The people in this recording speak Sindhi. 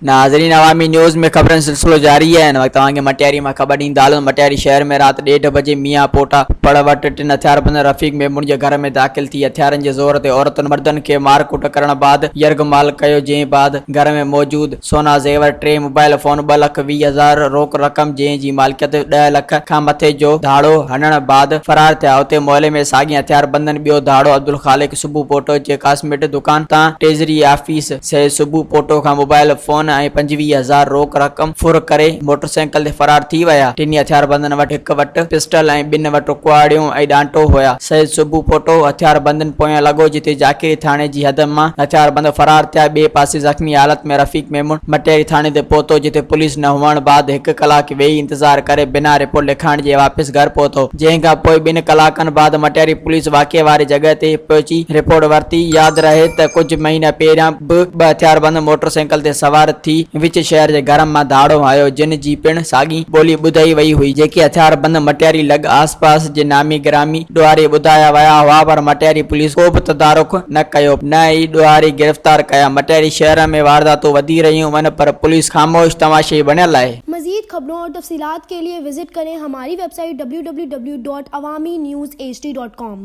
ناظرين عوامي نيوز ۾ خبرن سلسلو جاري آهي هن وقت اوهان کي مٽياري مان خبر ڏيندا هلون مٽياري شهر ۾ رات ڏيڍ بجي ميان پوٽا پڙ وٽ ٽن هٿياربند رفيق ميمڻ جي گهر ۾ داخل ٿي هٿيارن جي زور تي عورتن مردن کي مارڪوٽ ڪرڻ بعد يرغمال ڪيو جنهن بعد گهر ۾ موجود سونا زيور ٽي موبائيل فون ٻه لک ويهه هزار روڪ رقم جنهن جي مالڪيت ڏهه لک کان مٿي جو ڌاڙو هڻڻ بعد فرار ٿيا اتي معلي ۾ ساڳين هٿياربندن ٻيو ڌاڙو عبدالخالق سبو پوٽو جي ڪاسميٽ دڪان تان ٽيزري آفيس سيد سبو پوٽو کان موبائيل فون ۽ پنجويهه هزار روڪ رقم ڦر ڪري موٽرسائيڪل تي فرار ٿي ويا ٽنهي هٿياربندن وٽ هڪ وٽ پسٽل ۽ ٻن وٽ ڪهاڙيون ۽ ڏانٽو هيا سيد سبو پوٽو هٿياربندن پويان لڳو جتي جاکيڙي ٿاڻي جي حد مان هٿياربند فرار ٿيا ٻئي پاسي زخمي زخمي حالت ۾ رفيق ميمڻ مٽياري ٿاڻي تي پهتو جتي پوليس نه هئڻ بعد هڪ ڪلاڪ ويهي انتظار ڪري بنا رپورٽ لکائڻ جي واپس گهر پهتو جنهن کان پوء ٻن ڪلاڪن بعد مٽياري پوليس واقعي واري جڳهه تي پهچي رپورٽ ورتي ياد رهي ته ڪجهه مهينا پهريان به ٻه هٿياربند موٽرسائيڪل تي سوار ٿي وچ شهر جي گهرن مان ڌاڙو هنيو جن جي پڻ ساڳي ٻولي ٻڌائي وئي هئي جيڪي هٿياربند مٽياري لڳ آس پاس جي نامي گرامي ڏوهاري ٻڌايا ويا هئا پر مٽياري پوليس ڪو به تدارڪ نه ڪيو نه ئي ڏوهاري گرفتار ڪيا مٽياري شهر ۾ وارداتون وڌي رهيون ون پر پوليس خاموش تماشائي بڻيل آهي. مزيد خبرون اور تفصيلات کے ليے وزٽ ڪرين ھماري ويب سائيٽ www.awaminews hd.com.